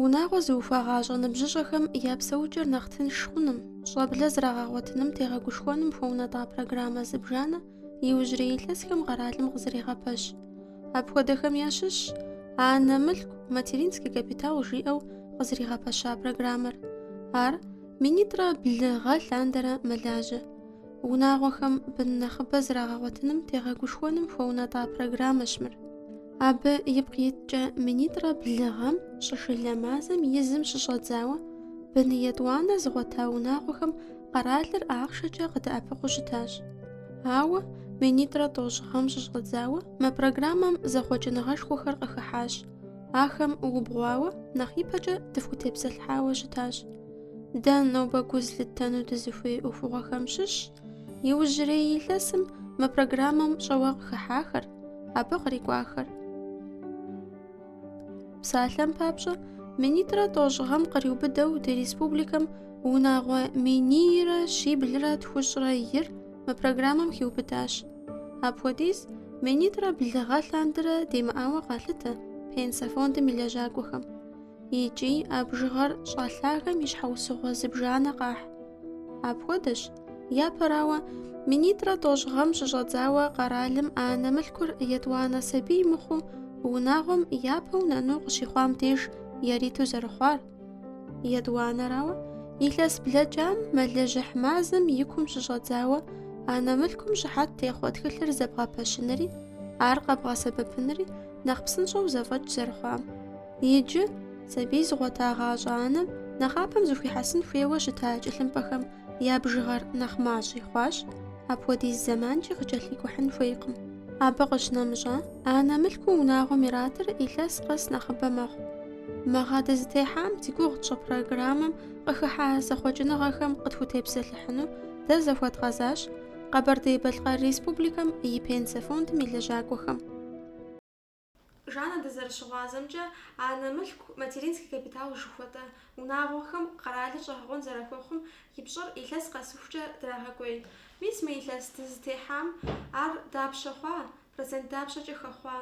Унагъуэ зыухуагъащӏэ ныбжьыщӏэхэм я псэукӏэр нэхъ тынш хъуным, щӏэблэ зрагъэгъуэтыным тегъэгушхуэным хуэунэтӏа программэ зыбжанэ иужьрей илъэсхэм къэралым къызэрегъэпэщ. Апхуэдэхэм ящыщщ анэ мылъку, материнский капитал жиӏэу къызэригъэпэща программэр. Ар минитӏрэ блы гъэ лъандэрэ мэлажьэ. Унагъуэхэм бын нэхъыбэ зрагъэгъуэтыным тегъэгушхуэным хуэунэтӏа программэщ мыр. Абы ипкъ иткӏэ минитӏрэ блы гъэм щӏышылэ мазэм и зым щыщӏэдзауэ бын етӏуанэ зыгъуэта унагъуэхэм къэралыр ахъшэкӏэ къыдэӏэпыкъуу щытащ. Ауэ минитӏрэ тӏощӏ гъэм щыщӏэдзауэ мы программэм зэхъуэкӏыныгъэшхуэхэр къыхыхьащ. Ахэм убгъуауэ нэхъ ипэкӏэ дыхутепсэлъхьауэ щытащ. Дэ нобэ гу зылъыттэну дызыхуей ӏуэхугъуэхэм щыщщ иужьрей илъэсым мы программэм щӏэуэ къыхыхьахэр, абы кърикӏуахэр. Псалъэм папщӏэ, минитӏрэ тӏощӏ гъэм къриубыдэу ди республикэм унагъуэ минийрэ щиблрэ тхущӏрэ ир мы программэм хиубыдащ. Апхуэдиз минитӏрэ блы гъэ лъандэрэ демыӏауэ къалъытэ пенсэ фондым и лэжьакӏуэхэм. Икӏи а бжыгъэр щӏэлъагэм и щхьэусыгъуэ зыбжанэ къахь. Апхуэдэщ, япэрауэ, минитӏрэ тӏощӏ гъэм щыщӏэдзауэ къэралым анэ мылъкур етӏуанэ сабий мыхъуу унагъуэм япэу нэну къыщихъуам деж яриту зэрыхъуар. Етӏуанэрауэ, илъэс блэкӏам мэлыжьыхь мазэм и кум щыщӏэдзауэ анэ мылъкум щыхьэт техъуэ тхылъыр зэбгъэпэщынри, ар къэбгъэсэбэпынри нэхъ псынщӏэу зэфӏэкӏ зэрыхъуам. Иджы, сабий зыгъуэтагъащӏэ анэм нэхъапэм зыхуихьэсын хуейуэ щыта тхылъымпӏэхэм я бжыгъэр нэхъ мащӏи хъуащ, апхуэдиз зэманкӏи къыкӏэлъикӏухьын хуейкъым. Абы къыщынэмыщӏа, анэ мылъкуу унагъуэм иратыр илъэс къэс нэхъыбэ мэхъу. Мы гъэ дызытехьам зи гугъу тщӏы программэм къыхыхьа зэхъуэкӏыныгъэхэм къытхутепсэлъыхьыну дэ захуэдгъэзащ Къэбэрдей-Балъкъэр Республикэм и Пенсэ фондым и лэжьакӏуэхэм. Жанна дызэрыщыгъуазэмкӏэ, анэ мылъку, материнский капитал жыхуэтӏэ унагъуэхэм къэралыр щӏэгъэкъуэн зэрахуэхъум и пщӏэр илъэс къэсыхукӏэ драгъэкӏуей. Мис мы илъэс дызытехьам ар дапщэ хъуа, процент дапщэкӏэ хэхъуа?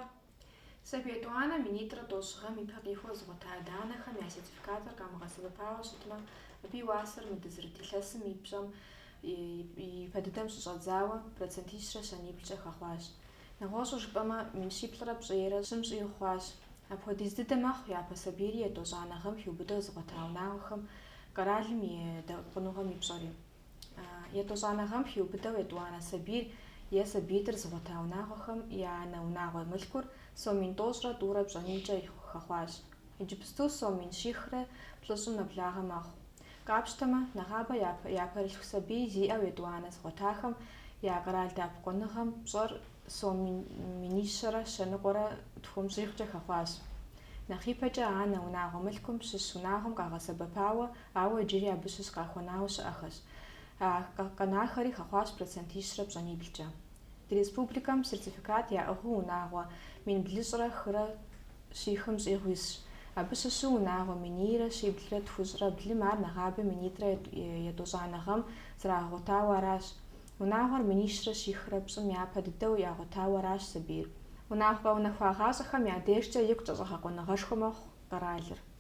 Сабий етӏуанэ минитӏрэ тӏощӏ гъэм ипэ къихуэу зыгъуэта адэ-анэхэм я сертификатыр къамыгъэсэбэпауэ щытмэ, абы и уасэр мы дызырыт илъэсым и пщӏэм и пэ дыдэм щыщӏэдзауэ процентищрэ щэниблкӏэ хэхъуащ. Нэгъуэщӏу жыпӏэмэ, мин щиплӏрэ пщӏейрэ щым щӏигъу хъуащ. Апхуэдиз дыдэ мэхъу япэ сабийри етӏощӏанэ гъэм хиубыдэу зыгъуэта унагъуэхэм, къэралым и дэӏэпыкъуныгъэм и пщӏэри. Етӏощӏанэ гъэм хиубыдэу етӏуанэ сабийр е сабиитӏыр зыгъуэта унагъуэхэм я анэ унагъуэ мылъкур сом мин тӏощӏрэ тӏурэ пщӏэнийкӏэ хэхъуащ. Иджыпсту сом мин щихрэ плӏыщӏым нэблагъэ мэхъу. Къапщтэмэ, нэгъабэ япэрылъху сабий зиӏэу етӏуанэ зыгъуэтахэм я къэрал дэӏэпыкъуныгъэм пщӏэр сом минищэрэ щэныкъуэрэ тхум щӏигъукӏэ хэхъуащ. Нэхъ ипэкӏэ анэ унагъуэ мылъкум щыщ унагъуэм къагъэсэбэпауэ, ауэ иджыри абы щыщ къахуэнауэ щыӏэхэщ. А къэнахэри хэхъуащ процентищрэ пщӏэниблкӏэ. Ди республикэм сертификат яӏыгъыу унагъуэ мин блыщӏрэ хырэ щихым щӏигъу исщ. Абы щыщу унагъуэ минийрэ щиблрэ тхущӏрэ блым ар нэгъабэ минитӏрэ етӏощӏанэ гъэм зрагъэгъуэтауэ аращ. Унагъуэр минищрэ щихрэ пщӏым япэ дыдэу ягъуэтауэ аращ сабийр. Унагъуэ къэунэхуагъащӏэхэм я дежкӏэ икъукӏэ щӏэгъэкъуэныгъэшхуэ мэхъу къэралыр.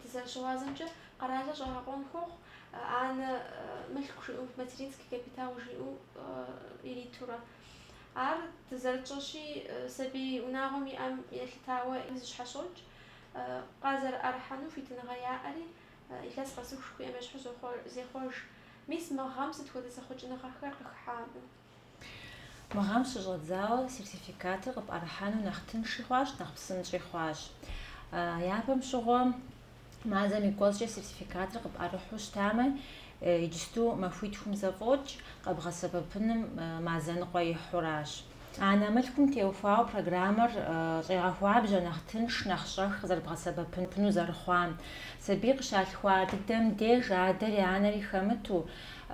Дызэрыщыгъуазэмкӏэ, къэралыр щӏэгъэкъуэн хуохъу анэ мылъку жиӏэу, материнский капитал жиӏэу иритурэ. Ар дызэрытщӏэщи, сабий унагъуэм иӏэм елъытауэ зыщхьэщокӏ. Къазэрыӏэрыхьэну хуитыныгъэ яӏэри, илъэс къэсыху жыхуиӏэм ещхьу зехъуэж. Мис мы гъэм сыт хуэдэ зэхъуэкӏыныгъэхэр къыхыхьа абы? Мы гъэм щыщӏэдзауэ сертификатыр къыпӏэрыхьэну нэхъ тынши хъуащ, нэхъ псынщӏи хъуащ. Япэм щыгъуэ мазэм и кӏуэцӏкӏэ сертификатыр къыпӏэрыхьу щытамэ, иджысту махуитхум зэфӏокӏ къэбгъэсэбэпыным мазэныкъуэ ихьуращ. Анэ мылъкум теухуауэ программэр щӏегъэхуабжьэ нэхъ тынш, нэхъ щӏэх къызэрыбгъэсэбэпыну зэрыхъуам. Сабий къыщалъхуа дыдэм деж адэри анэри хэмыту,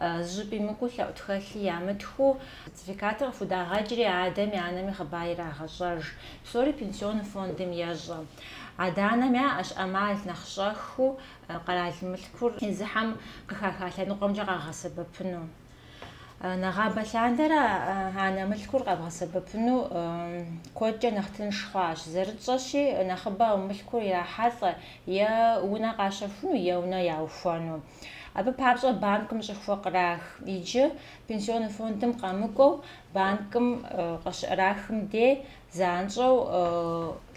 Зыщӏыпӏи мыкӏуэу лъэӏу тхылъи ямытхыу, сертификатыр къыхудагъэкӏри, адэми анэми хъыбар ирагъэщӏэж. Псори пенсионный фондым ещӏэ. Адэ-анэм яӏэщ ӏэмал нэхъ щӏэхыу къэрал мылъкур езыхэм къыхаха лъэныкъуэмкӏэ къагъэсэбэпыну. Нэгъабэ лъандэрэ анэ мылъкур къэбгъэсэбэпыну куэдкӏэ нэхъ тынш хъуащ. Зэрытщӏэщи, нэхъыбэу мылъкур ирахьэлӏэ е унэ къащэхуну, е унэ яухуэну. Абы папщӏэ банкым щӏыхуэ кърах. Иджы пенсионный фондым къэмыкӏуэу банкым къыщыӏэрахым де занщӏэу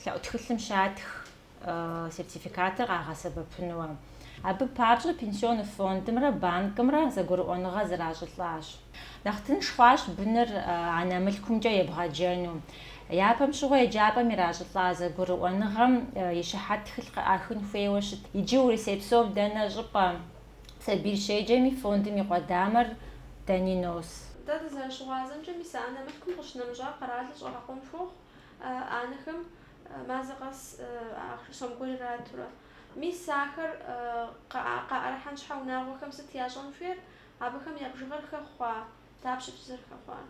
лъэӏу тхылъым щатх сертификатыр къагъэсэбэпынуэ. Абы папщӏэ пенсионный фондымрэ банкымрэ зэгурыӏуэныгъэ зэращӏылӏащ. Нэхъ тынш хъуащ быныр анэ мылъкумкӏэ ебгъэджэну. Япэм щыгъуэ еджапӏэм иращӏылӏа зэгурыӏуэныгъэм и щыхьэт тхылъ къыӏахын хуейуэ щыт. Иджы Урысей псом дэнэ щӏыпӏэ сабий щеджэми, фондым и къуэдамэр дэни нос. Дэ дызэрыщыгъуазэмкӏэ, мис анэ мылъкум къыщынэмыщӏа къэралыр щӏэгъэкъуэн хуохъу анэхэм мазэ къэс ахъшэ сом гуэр иратурэ. Мис ахэр къаӏэрыхьэн щхьэ унагъуэхэм сыт ящӏэн хуейр? Абыхэм я бжыгъэр хэхъуа? Дапщэ фызэрыхэхъуар?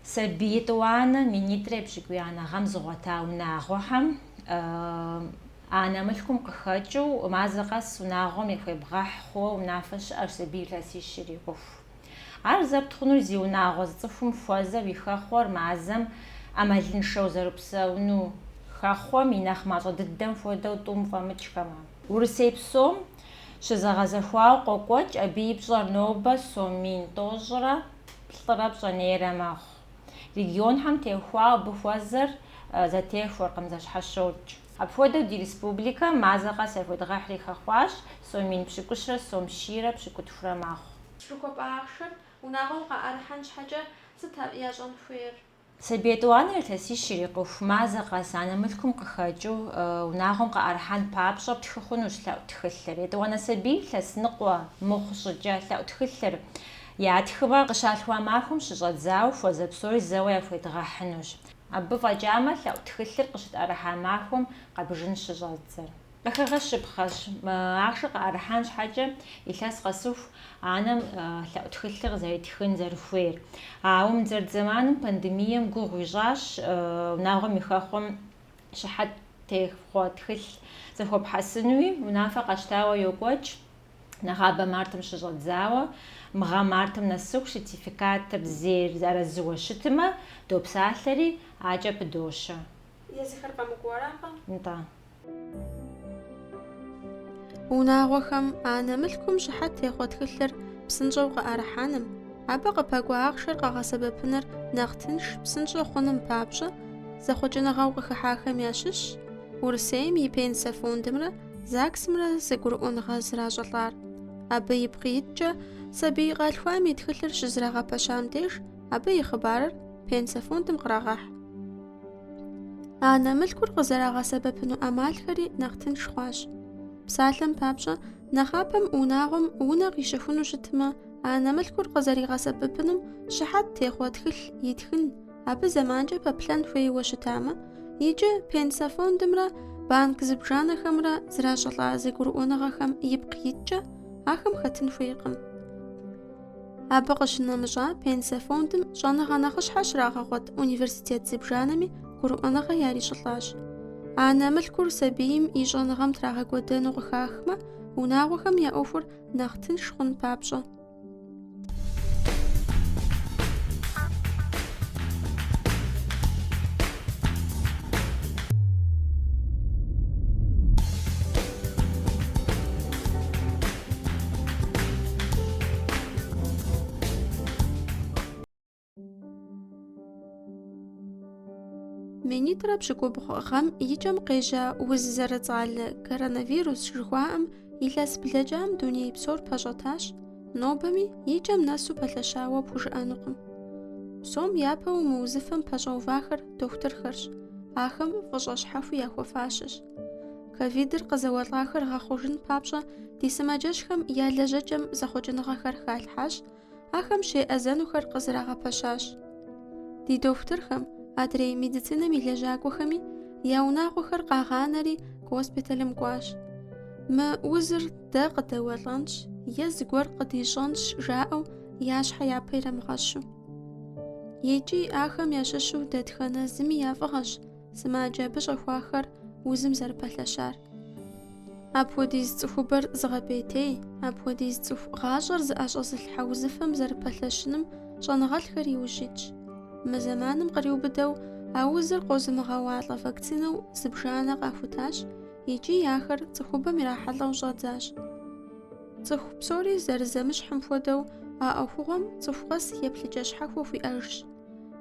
Сабий етӏуанэ минитӏрэ епщыкӏуиянэ гъэм зыгъуэта унагъуэхэм анэ мылъкум къыхэкӏыу мазэ къэс унагъуэм яхуебгъэхь хъууэ унафэ щыӏэщ сабий илъэсищ ирикъуху. Ар зэпт хъунур зи унагъуэ зы цӏыхум хуэзэу и хэхъуэр мазэм ӏэмалыншэу зэрыпсэуну, хэхъуэм и нэхъ мащӏэ дыдэм хуэдэу тӏум фӏэмыкӏхэмэ. Урысей псом Щызэгъэзэхуауэ къокӏуэкӏ, абы и пщӏэр нобэ сом мин тӏощӏрэ плӏырэ пщӏэнейрэ мэхъу. Регионхэм теухуауэ абы хуэзэр зэтехуэркъым, зэщхьэщокӏ. Апхуэдэу ди республикэм мазэ къэс яхуедгъэхьри хэхъуащ, сом мин пщыкӏущрэ сом щийрэ пщыкӏутхурэ мэхъу. Жыхуэпӏа ахъшэр унагъуэм къаӏэрыхьэн щхьэкӏэ сыт ар ящӏэн хуейр? Сабий етӏуанэр илъэсищ ирикъуху мазэ къэс анэ мылъкум къыхэкӏыу унагъуэм къыӏэрыхьэн папщӏэ птхы хъунущ лъэӏу тхылъыр. Етӏуанэ сабий илъэс ныкъуэ мыхъу щӏыкӏэ лъэӏу тхылъыр ятхымэ къыщалъхуа махуэм щыщӏэдзауэ хуэзэ псори зэуэ яхуедгъэхьынущ. Абы фӏэкӏамэ лъэӏу тхылъыр къыщытӏэрыхьа махуэм къэбжын щыщӏэдзэр. Къыхэгъэщыпхъэщ ахъшэр къыӏэрыхьэн щхьэкӏэ илъэс къэсыху анэм лъэӏу тхылъыр къызэритхын зэрыхуейр. Ауэ мы дызэрыт зэманым пандемием гугъу ищӏащ унагъуэм и хэхъуэм щыхьэт техъуэ тхылъ зэхуэпхьэсынуи. Унафэ къэщтауэ йокӏуэкӏ нэгъабэ мартым щыщӏэдзауэ. Мы гъэм мартым нэсыху сертификатыр зейр арэзыуэ щытымэ, допсалъэри, акӏэ пыдощэ. Езыхэр къэмыкӏуэу аракъэ? Нтӏэ. Унагъуэхэм анэ мылъкум щыхьэт техъуэ тхылъыр псынщӏэу къыӏэрыхьэным, абы къыпэкӏуа ахъшэр къэгъэсэбэпыныр нэхъ тынш, псынщӏэ хъуным папщӏэ зэхъуэкӏыныгъэу къыхыхьахэм ящыщщ Урысейм и Пенсэ фондымрэ ЗАГСымрэ зэгурыӏуэныгъэ зращӏылӏар. Абы ипкъ иткӏэ, сабий къалъхуам и тхылъыр щызэрагъэпэщам деж, абы и хъыбарыр Пенсэ фондым кърагъэхь. Анэ мылъкур къызэрагъэсэбэпыну ӏэмалхэри нэхъ тынш хъуащ. Псалъэм папщӏэ, нэхъапэм унагъуэм унэ къищэхуну щытмэ, анэ мылъкур къызэригъэсэбэпыным щыхьэт техъуэ тхылъ итхын, абы зэманкӏэ пэплъэн хуейуэ щытамэ, иджы пенсэ фондымрэ банк зыбжанэхэмрэ зращӏылӏа зэгурыӏуэныгъэхэм ипкъ иткӏэ, ахэм хэтын хуейкъым. Абы къыщынэмыщӏа пенсэ фондым щӏэныгъэ нэхъыщхьэ щрагъэгъуэт университет зыбжанэми гурыӏуэныгъэ ярищӏылӏащ. Анэ мылъкур сабийм и щӏэныгъэм трагъэкӏуэдэну къыхахмэ, унагъуэхэм я ӏуэхур нэхъ тынш хъун папщӏэ. Минитӏрэ пщыкӏубгъу гъэм и кӏэм къежьа уз зэрыцӏалэ коронавирус жыхуаӏэм илъэс блэкӏам дуней псор пэщӏэтащ, нобэми и кӏэм нэсу пэлъэщауэ пхужыӏэнукъым. Псом япэу мы узыфэм пэщӏэувахэр дохутырхэрщ, ахэм фӏыщӏэ щхьэхуи яхуэфащэщ. Ковидыр къызэуэлӏахэр гъэхъужын папщӏэ ди сымаджэщхэм я лэжьэкӏэм зэхъуэкӏыныгъэхэр халъхьащ, ахэм щеӏэзэнухэр къызэрагъэпэщащ. Ди дохутырхэм, адрей медицинэм и лэжьакӏуэхэми я унагъуэхэр къагъанэри госпиталым кӏуащ. Мы узыр дэ къыдэуэлӏэнщ е зыгуэр къыдищӏэнщ жаӏэу я щхьэ япэ ирамыгъэщу. Икӏи ахэм ящыщу дэтхэнэ зыми я фӏыгъэщ Сымаджэ абы щӏэхуахэр узым зэрыпэлъэщар. Апхуэдиз цӏыхубэр зыгъэпӏейтей, апхуэдиз цӏыху гъащӏэр зыӏэщӏэзылъхьэ узыфэм зэрыпэлъэщыным щӏэныгъэлӏхэр иужь итщ. Мы зэманым къриубыдэу а узыр къозымыгъэуалӏэ вакцинэу зыбжанэ къахутащ икӏи ахэр цӏыхубэм ирахьэлӏэу щӏадзащ. Цӏыху псори зэрызэмыщхьым хуэдэу а ӏуэхугъуэм цӏыху къэс еплъыкӏэ щхьэхуэ хуиӏэжщ.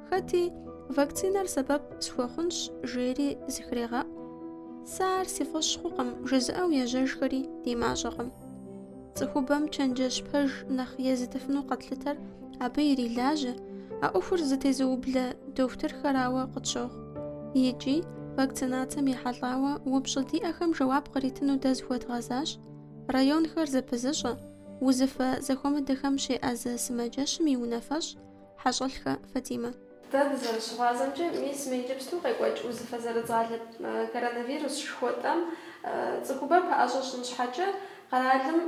Хэти вакцинэр сэбэп схуэхъунщ жери зыхрегъэӏу. Сэ ар си фӏэщ хъукъым, жызыӏэу ежьэжхэри ди мащӏэкъым. Цӏыхубэм чэнджэщ пэж нэхъ езытыфыну къэтлъытэр абы ирилажьэ, а ӏуэхур зытезыублэ дохутырхэрауэ къытщохъу. Икӏи вакцинацэм ехьэлӏауэ упщӏы диӏэхэм жэуап къритыну дэ зыхуэдгъэзащ районхэр зэпызыщӏэ, узыфэ зэхуэмыдэхэм щеӏэзэ сымаджэщым и унафэщӏ Хьэщӏэлъхэ Фатимэ. Дэ дызэрыщыгъуазэмкӏэ, мис мы иджыпсту къекӏуэкӏ узыфэ зэрыцӏалэ коронавирус жыхуэтӏэм цӏыхубэр пэӏэщӏэ щӏын щхьэкӏэ къэралым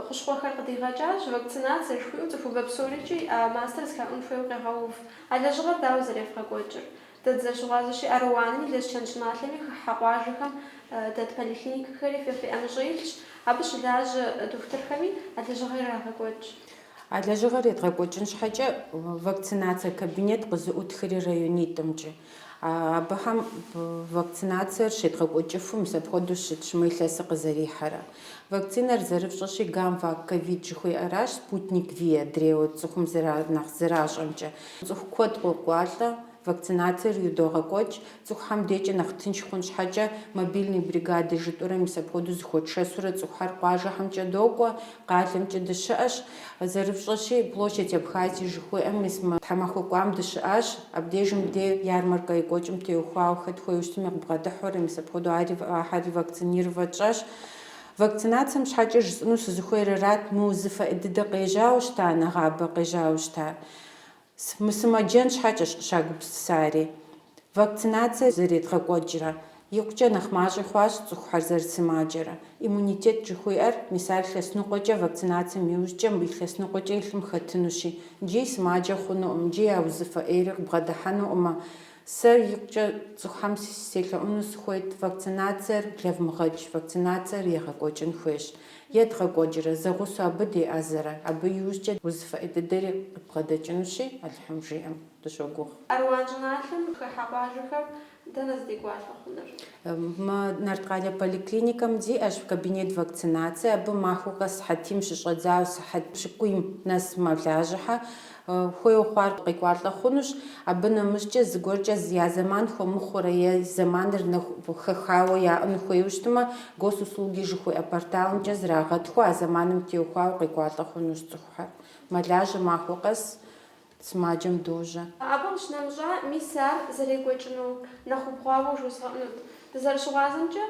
хущхъуэхэр къыдигъэкӏащ, вакцинацэ жыхуиӏэу цӏыхубэ псорикӏи а мастэр зыхаӏун хуейуэ къегъэув. А лэжьыгъэр дауэ зэрефгъэкӏуэкӏыр? Дэ дызэрыщыгъуазэщи, Аруанми Лэскэн щӏыналъэми хыхьэ къуажэхэм дэт поликлиникэхэри фэ фи ӏэмыщӏэ илъщ, абы щылажьэ дохутырхэми а лэжьыгъэр ирагъэкӏуэкӏ. А лэжьыгъэр едгъэкӏуэкӏын щхьэкӏэ вакцинацие кабинет къызэӏутхри районитӏымкӏэ. Абыхэм вакцинациер щедгъэкӏуэкӏыфу мис апхуэдэу щытщ мы илъэсыр къызэрихьэрэ. Вакцинэр зэрыфщӏэщи Гамвак ковид жыхуиӏэращ, Спутник-Ви адрейуэ цӏыхум нэхъ зэращӏэмкӏэ. Цӏыху куэд къокӏуалӏэ. Вакцинациер идогъэкӏуэкӏ, цӏыхухэм декӏэ нэхъ тынш хъун щхьэкӏэ, мобильный бригады жытӏурэ мис апхуэдэу зыхуэтшэсурэ цӏыхухэр къуажэхэмкӏэ докӏуэ, къалэмкӏэ дыщыӏэщ. Зэрыфщӏэщи, Площадь Абхазии жыхуиӏэм мис мы тхьэмахуэ кӏуам дыщыӏащ. Абдежым де ярмаркэ екӏуэкӏым теухуауэ хэт хуейуэ щытми къыбгъэдыхьэурэ, мис апхуэдэу ахьэри вакцинировэ тщӏащ. Вакцинацием щхьэкӏэ жысӏэну сызыхуейр арат, мы узыфэ ӏей дыдэ къежьауэ щыта, нэгъабэ къежьауэ щыта. Мысымэджэн щхьэкӏэщ къыщагупсысари. Вакцинацие зэредгъэкӏуэкӏрэ, икъукӏэ нэхъ мащӏи хъуащ цӏыхухэр зэрысымаджэрэ. Иммунитет жыхуиӏэр, мис ар илъэс ныкъуэкӏэ вакцинацием иужькӏэ мыбы илъэс ныкъуэкӏэ и лъым хэтынущи, икӏи сымаджэ хъунукъым, икӏи а узыфэ ӏейри къыбгъэдыхьэнукъымэ. Сэ икъукӏэ цӏыхухэм селъэӏуну сыхуейт, вакцинациер блэвмыгъэкӏ, вакцинациер егъэкӏуэкӏын хуейщ. Едгъэкӏуэкӏрэ, зэгъусэу абы деӏэзэрэ, абы иужькӏэ узыфэ ӏей дыдэри къыдбгъэдэкӏынущи, Алыхьым жиӏэм дыщогугъ. Аруан щӏыналъэм хыхьэ къуажэхэм дэнэ здекӏуалӏэ хъунур? Мы Нарткъалэ поликлиникэм диӏэщ кабинет вакцинацие, абы махуэ къэс сыхьэтийм щыщӏэдзауэ сыхьэт пщыкӏуийм нэс мэлажьэхьэ. Хуейуэ хъуар къекӏуалӏэ хъунущ. Абы нэмыщӏкӏэ зыгуэркӏэ я зэман хуэмыхъуурэ е зэманыр нэхъ хэхауэ яӏэну хуейуэ щытмэ, Госуслуги жыхуиӏэ порталымкӏэ зрагъэтхыу, а зэманым теухуауэ къекӏуалӏэ хъунущ цӏыхухэр. Мэлажьэ махуэ къэс сымаджэм дожьэ. Абы къыщынэмыщӏа, мис ар зэрекӏуэкӏыну нэхъ убгъуауэ жозгъэӏэнут. Дызэрыщыгъуазэмкӏэ,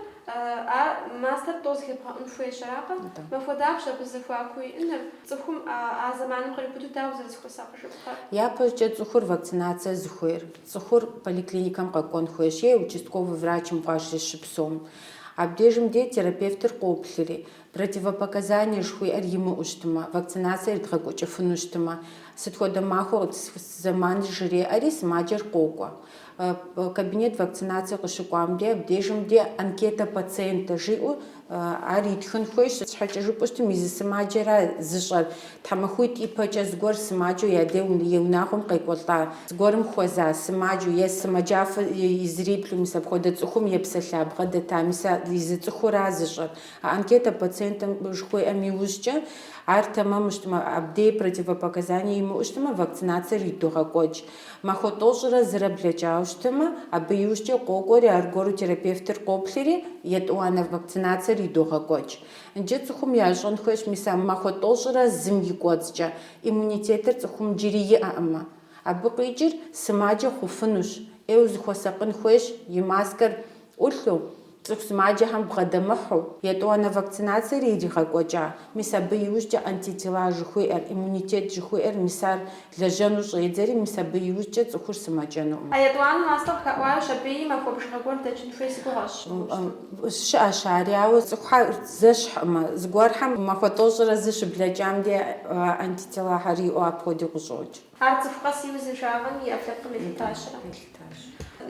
ар мастэр тӏэу зыхебгъэӏун хуейщ, аракъэ? Махуэ дапщэ абы зэхуаку иӏэныр. Цӏыхум а зэманым къриубыдэу дауэ зэрызыхуэсакъыжыпхъэр? Япэкӏэ цӏыхур вакцинацие зыхуейр, цӏыхур поликлиникэм къэкӏуэн хуейщ е участковый врачым къуажэ щыпсэум. Абдежым де терапевтыр къоплъри, противопоказание жыхуиӏэр имыӏэу щытмэ, вакцинациер едгъэкӏуэкӏыфыну щытмэ, сыт хуэдэ махуэ къытысхуэс зэманыр жреӏэри, сымаджэр къокӏуэ. Кабинет вакцинацие къыщыкӏуам де абдежым де анкета пациентэ жиӏэу ар итхын хуейщ. Щхьэкӏэ жыпӏэу щытым, езы сымаджэра зыщӏэр, тхьэмахуитӏ ипэкӏэ зыгуэр сымаджэу я де и унагъуэм къекӏуэлӏа, зыгуэрым хуэза сымаджэу е сымаджафэ изриплъу, мис апхуэдэ цӏыхум епсэлъа бгъэдэта, мис езы цӏыхура зыщӏэр. А анкета пациентэ жыхуиӏэм иужькӏэ, ар тэмэму щытмэ, абдей противопоказание имыӏэу щытмэ, вакцинациер идогъэкӏуэкӏ. Махуэ тӏощӏрэ зырэ блэкӏауэ щытымэ, абы иужькӏэ къокӏуэри, аргуэру терапевтыр къоплъри, етӏуанэ вакцинациер идогъэкӏуэкӏ. Иджы цӏыхум ящӏэн хуейщ, мис а махуэ тӏощӏрэ зым и кӏуэцӏкӏэ, иммунитетыр цӏыхум джыри иӏэкъымэ. Абы къикӏыр сымаджэ хъуфынущ, ӏейуэ зыхуэсакъын хуейщ и маскэр ӏулъу, цӏыху сымаджэхэм бгъэдэмыхьу, етӏуанэ вакцинациер иригъэкӏуэкӏа, мис абы иужькӏэ антитела жыхуиӏэр, иммунитет жыхуиӏэр, мис ар лэжьэну щӏедзэри, мис абы иужькӏэ цӏыхур сымэджэнукъым. А етӏуанэ мастэ къыхаӏуащ, абыи махуэ бжыгъэ гуэр дэкӏын хуей си гугъэщ, мыгъуэщту. Щыӏэщ ари, ауэ цӏыхухэр зэщхькъымэ, зыгуэрхэм махуэ тӏощӏрэ зы щыблэкӏам де антителахэр иӏэу апхуэдэу къыщӏокӏ. Ар цӏыху къэс и узыншагъэм и ӏэпкълъэпкъым елъытащ.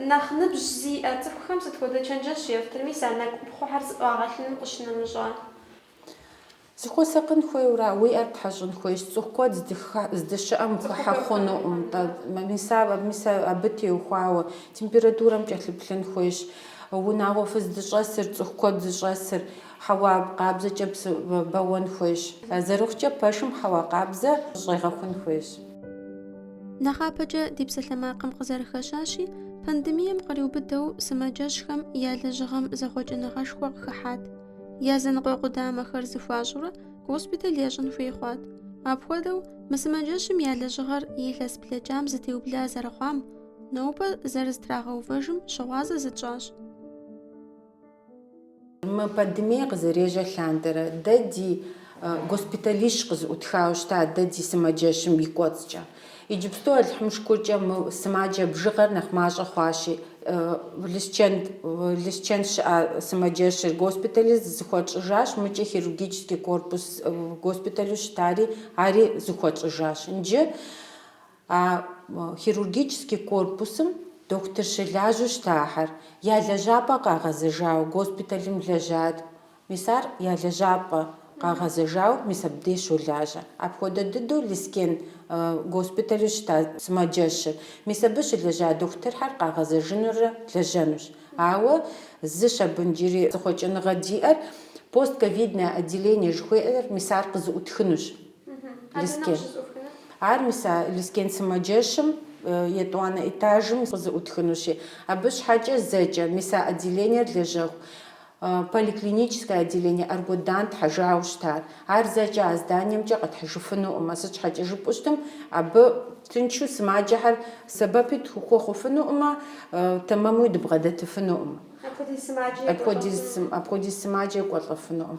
Нэхъ ныбжь зиӏэ цӏыхухэм сыт хуэдэ чэнджэщ ефтыр, мис а нэкӏуӏупхъуэхэр зыӏуагъэлъыным къыщынэмыщӏа? Зыхуэсакъын хуейуэра? Уи ӏэр птхьэщӏын хуейщ. Цӏыху куэд здыщыӏэм ухыхьэ хъунукъым, мис абы теухуауэ температурэм кӏэлъыплъын хуейщ. Унагъуэ фыздыщӏэсыр, цӏыху куэд зыщӏэсыр, Хьэуа къабзэкӏэ бэуэн хуейщ. Зэрыхъукӏэ пэшым хьэуа къабзэ щӏегъэхун хуейщ. Нэхъапэкӏэ ди псалъэмакъым къызэрыхэщащи, пандемием къриубыдэу сымаджэщхэм я лэжьыгъэм зэхъуэкӏыныгъэшхуэ къыхыхьат. Языныкъуэ къудамэхэр зыхуащӏурэ госпиталь ящӏын хуей хъуат. Апхуэдэу мы сымаджэщым я лэжьыгъэр илъэс блэкӏам зытеубла зэрыхъуам, нобэ зэрызэтрагъэувэжым щыгъуазэ зытщӏащ. Мы пандемие къызэрежьэ лъандэрэ дэ ди госпиталищ къызыӏутхауэ щыта дэ ди сымаджэщым и кӏуэцӏкӏэ. Иджыпсту Алыхьым шыкуркӏэ мы сымаджэ бжыгъэр нэхъ мащӏэ хъуащи, Лэскэн, Лэскэн щыӏа сымаджэщыр госпиталыр зыхуэтщӏыжащ, мыкӏэ хирургический корпус госпиталу щытари ари зыхуэтщӏыжащ. Нджы А хирургический корпусым дохутыр щылажьэу щытахэр я лэжьапӏэ къагъэзэжауэ госпиталым лэжьат. Мис ар я лэжьапӏэ къагъэзэжауэ мис абдей щолажьэ. Апхуэдэ дыдэу Лескен госпиталу щыта сымаджэщыр. Мис абы щылэжьа дохутырхэр къагъэзэжынурэ лэжьэнущ. Ауэ зыщ абы нджыри зыхъуэкӏыныгъэ диӏэр, постковидное отделение жыхуеӏэр, мис ар къызыӏутхынущ. Лескен. Ар, мис, а Лескен сымаджэщым, етӏуанэ этажым къызыӏутхынущи, абы щхьэкӏэ зэкӏэ, мис, а отделениер лэжьэху поликлиническое отделение Аргудан тхьэжауэ щытар. Ар зэкӏэ а зданиемкӏэ къэтхьыжыфынукъымэ, сыт щхьэкӏэ жыпӏэу щытым, абы тыншу сымаджэхэр сэбэпи дыхуэхъуфынукъымэ, тэмэмуи дыбгъэдэтыфынукъым. Апхуэдиз сымаджэ екӏуэлӏэфынукъым.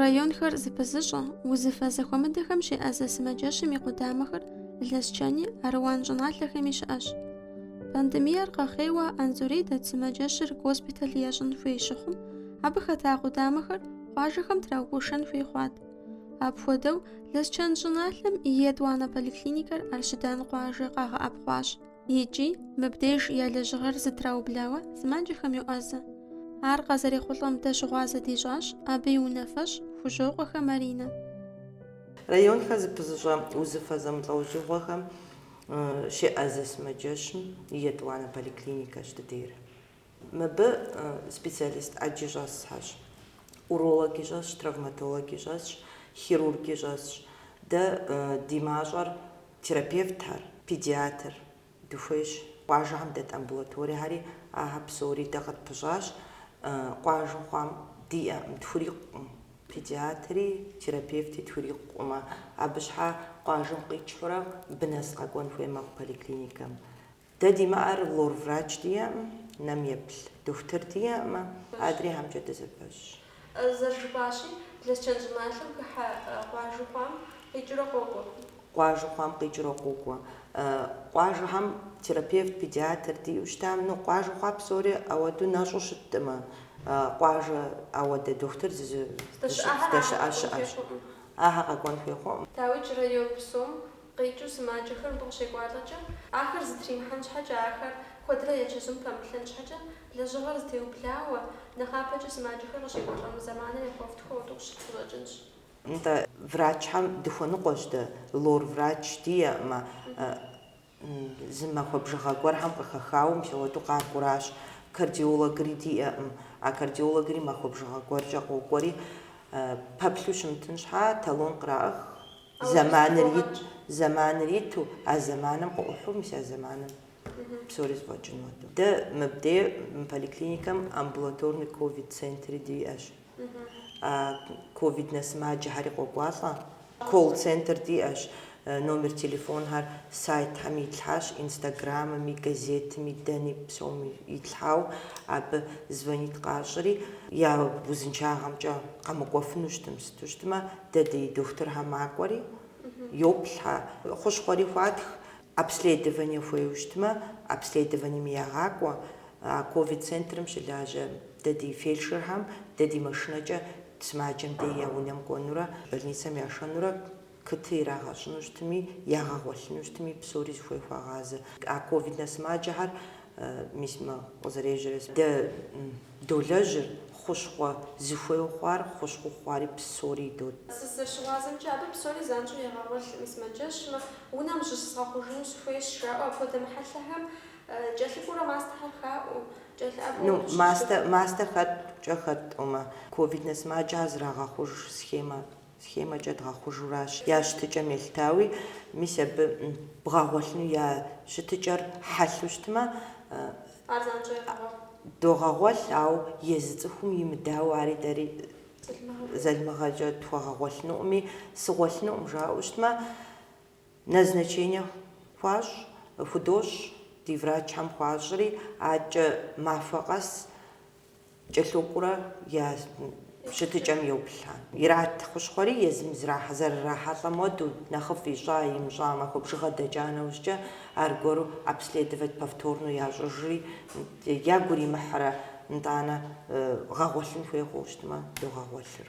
Районхэр зыпызыщӏэ, узыфэ зэхуэмыдэхэм щеӏэзэ сымаджэщым и къудамэхэр Лэсчэни, Аруан щӏыналъэхэми щыӏэщ. Пандемиер къэхъейуэ Анзорей дэт сымаджэщыр госпиталь ящӏын хуей щыхъум, абы хэта къудамэхэр къуажэхэм траугуэшэн хуей хъуат. Апхуэдэу, Лэсчэн щӏыналъэм и етӏуанэ поликлиникэр Арщыдан къуажэ къагъэӏэпхъуащ. икӏи мыбдеж я лэжьыгъэр зытраублауэ сымаджэхэм йоӏэзэ. Ар къазэрехъулӏэм дэ щыгъуазэ дищӏащ, абы и унафэщӏ Хужьокъуэхэ Маринэ. Районхэр зыпызыщӏэ узыфэ зэмылӏэужьыгъуэхэм щеӏэзэ сымаджэщым и етӏуанэ поликлиникэщ дыдейр. Мыбы специалист ӏэджи щӏэсхьэщ, урологи щӏэсщ, травматологи щӏэсщ, хирурги щӏэсщ. Дэ ди мащӏэр терапевтхэр, педиатр, дыхуейщ. Къуажэхэм дэт амбулаториехьэри ахьэ псори дэ къытпыщӏащ. Къуажэ хъуам диӏэӏым, тхурикъуӏым. Педиатри, терапевти тхурикъуӏымэ, абы щхьа къуажэм къикӏхьурэ мыбы нэс къэкӏуэн хуей мэхъу поликлиникэм. Дэ димыӏэр лор врач диӏэӏым, нэм еплъ дохутыр диӏэӏымэ, адрейхэмкӏэ дызэпэщ. Зэрыжыпӏащи, Лэсчэн щӏыналъэм хыхьэ къуажэ хъуам къикӏыурэ къокӏуэ. Къуажэ хъуам къикӏыурэ къокӏуэ. Къуажэхэм терапевт, педиатр диӏэу щытам, ну, къуажэ хъуа псори ауэду нэщӏу щытӏымэ, къуажэ ауэдэ дохутыр здэщыӏэ щыӏэщ. Ахьэ къэкӏуэн хуей хъуӏым. Дауикӏ, район псом къикӏыу сымаджэхэр мыбы къыщекӏуалӏэкӏэ, ахэр зытримыхьэн щхьэкӏэ, ахэр куэдрэ я чэзум пэмыплъэн щхьэкӏэ, лэжьыгъэр зытеублауэ, нэхъапэкӏэ сымаджэхэр къыщекӏуэлӏэну зэманыр яхуэфтхыу ауэду щыту къыщӏэкӏынщ. Нтӏэ, врачхэм дыхуэныкъуэщ дэ, лор врач диӏэӏымэ, зы махуэ бжыгъэ гуэрхэм къыхэхауэ мыпхуэдэу къакӏуращ, кардиологри диӏэӏым, а кардиологри махуэ бжыгъэ гуэркӏэ къокӏуэри, пэплъу щымытын щхьа, талон къраӏых, Зэманыр ит, зэманыр иту, а зэманым къыӏухьу, мис а зэманым псори зэфӏэкӏын хуэдэу. Дэ мыбдей мы поликлиникэм амбулаторный ковид центри диӏэщ. А ковиднэ сымаджэхьэри къокӏуалӏэ. Колл-центр диӏэщ, номер телефонхэр сайтхэм итлъхьащ, инстаграмми, газетми, дэни псоми итлъхьау, абы звонит къащӏри, я узыншагъэмкӏэ къэмыкӏуэфыну щытым, с Ту щытмэ, дэ ди дохутырхэр макӏуэри, йоплъхьэ, хущхъуэри хуатх. Обследование хуейуэ щытмэ, обследованием ягъакӏуэ. А ковид центрым щылажьэ дэ ди фельдшерхэм дэ ди машинэкӏэ сымаджэм дей я унэм кӏуэнурэ, больницэм яшэнурэ Кыты ирагъэщӏыну щытми, ягъэгъуэлъыну щытми, псори зыхуей хуагъазэ. А ковиднэ сымаджэхэр, мис мы къызэрежьэрэ дэ долэжьыр, хущхъуэ зыхуейуэ хъуар, хущхъуэу хъуари псори идот. Сызэрыщыгъуазэмкӏэ абы псори занщӏэу ягъэгъуэлъми сымаджэщым, унэм зыщызгъэхъужыну сыхуейщ, жаӏэу апхуэдэ мыхьэлъэхэм кӏэлъыкӏуурэ мастэхэр хаӏуэу, кӏэлъыӏэбэу Ну, къыщыщ мастэ, дэ. мастэ хэтӏукӏэ хэтӏумэ, ковиднэ сымаджэхэр зэрагъэхъуж схемэ схемэкӏэ дгъэхъужуращ я щытыкӏэм елъытауи, мис абы бгъэгъуэлъыну я щытыкӏэр хьэлъэу щытмэ, Ар занщӏэу ягъэгъуэлъ. догъэгъуэлъ, ауэ езы цӏыхум имыдауэ ари дэри залымыгъэкӏэ тхуэгъэгъуэлъынукъыми, сыгъуэлъынукъым жаӏэу щытмэ, назначение хуащӏ, худощӏ, ди врачхэм хуащӏри, адэкӏэ махуэ къэс, кӏэлъокӏуурэ я щытыкӏэм йоплъхэ. Ират хущхъуэри езым зэрырахьэлӏэ модэу, нэхъыфӏ ищӏа имыщӏа, махуэ бжыгъэ дэкӏа нэужькӏэ, аргуэру обследовать повторно ящӏыжри, ягу иримыхьрэ, нтӏанэ гъэгъуэлъын хуей хъуэу щытмэ, догъэгъуэлъыр.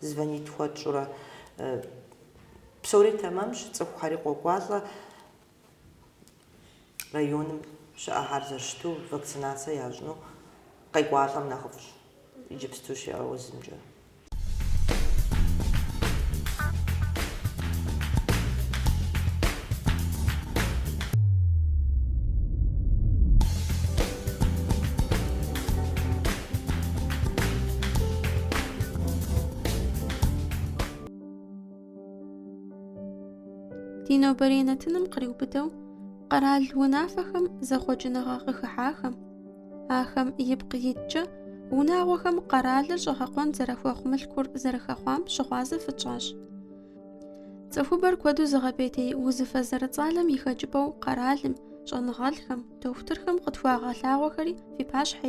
Звонить хуэтщӏурэ. Псори тэмэмщ, цӏыхухьэри къокӏуалӏэ районым щыӏэхьэр зэрыщыту, вакцинацэ ящӏыну къекӏуалӏэм нэхъыфӏщ иджыпсту щыӏэ узымкӏэ. Ди нобэрей нэтыным къриубыдэу къэрал унафэхэм зэхъуэкӏыныгъэ къыхыхьахэм, ахэм ипкъ иткӏэ унагъуэхэм къэралыр щӏэгъэкъуэн зэрахуэхъу мылъкур зэрыхэхъуам щыгъуазэ фытщӏащ. Цӏыхубэр куэду зыгъэпӏейтей узыфэ зэрыцӏалэм и хэкӏыпӏэу къэралым, щӏэныгъэлӏхэм, дохутырхэм къытхуагъэлъагъуэхэри фи пащхьэ